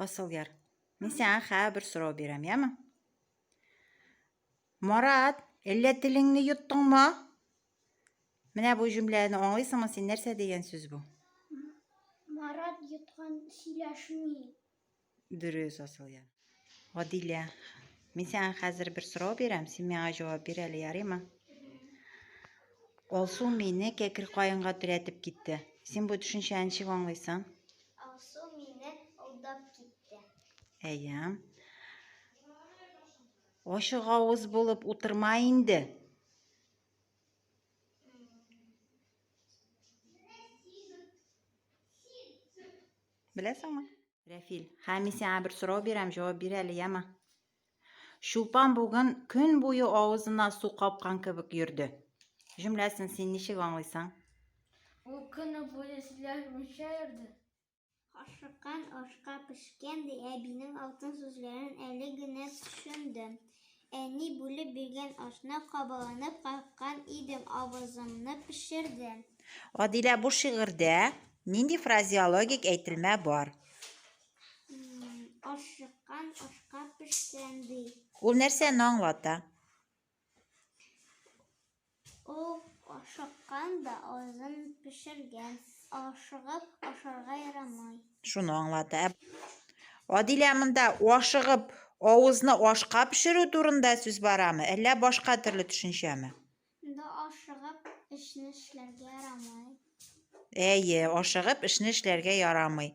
Асылъяр. Мин сиңа хәбер сорау бирәм, яме? Марат, әллә телеңне йоттыңмы? Менә бу җөмләне аңлыйсыңмы син? Нәрсә дигән сүз бу? Марат йоткан сөйләшми. Дөрес, Асылъяр. Гадилә. Мин сиңа хәзер бер сорау бирәм, син миңа җавап бир әле, ярыймы? Алсу мине кәкер каенга терәтеп китте. Син бу төшенчәне ничек аңлыйсың? Алсу мине алдап китте. Әйе. Ачык авыз булып утырма инде. Беләсеңме? Рәфил, хәми сиңа бер сорау бирәм, җавап бир әле, яма. Чулпан бүген көн буе авызына су капкан кебек йөрде. Җөмләсен син ничек аңлыйсың? Ул көне буе сүзләр буенча йөрде. Ашыккан ашка пешкән, ди әбинең алтын сүзләрен әле генә төшендем. Әни бүлеп биргән ашны кабаланып каккан идем, авызымны пешерде. Адилә, бу шигырьдә нинди фразеологик әйтелмә бар? Ашыккан ашка пешсән, ди. Ул нәрсәне аңлата? Ул ашыккан да азын пешергән. Ашыгып ашарга ярамый. Шуны аңлата. Адилә монда ашыгып авызны ашка пешерү турында сүз барамы? Әллә башка төрле төшенчәме? Монда ашыгып эшне эшләргә ярамый. Әйе, ашыгып эшне эшләргә ярамый.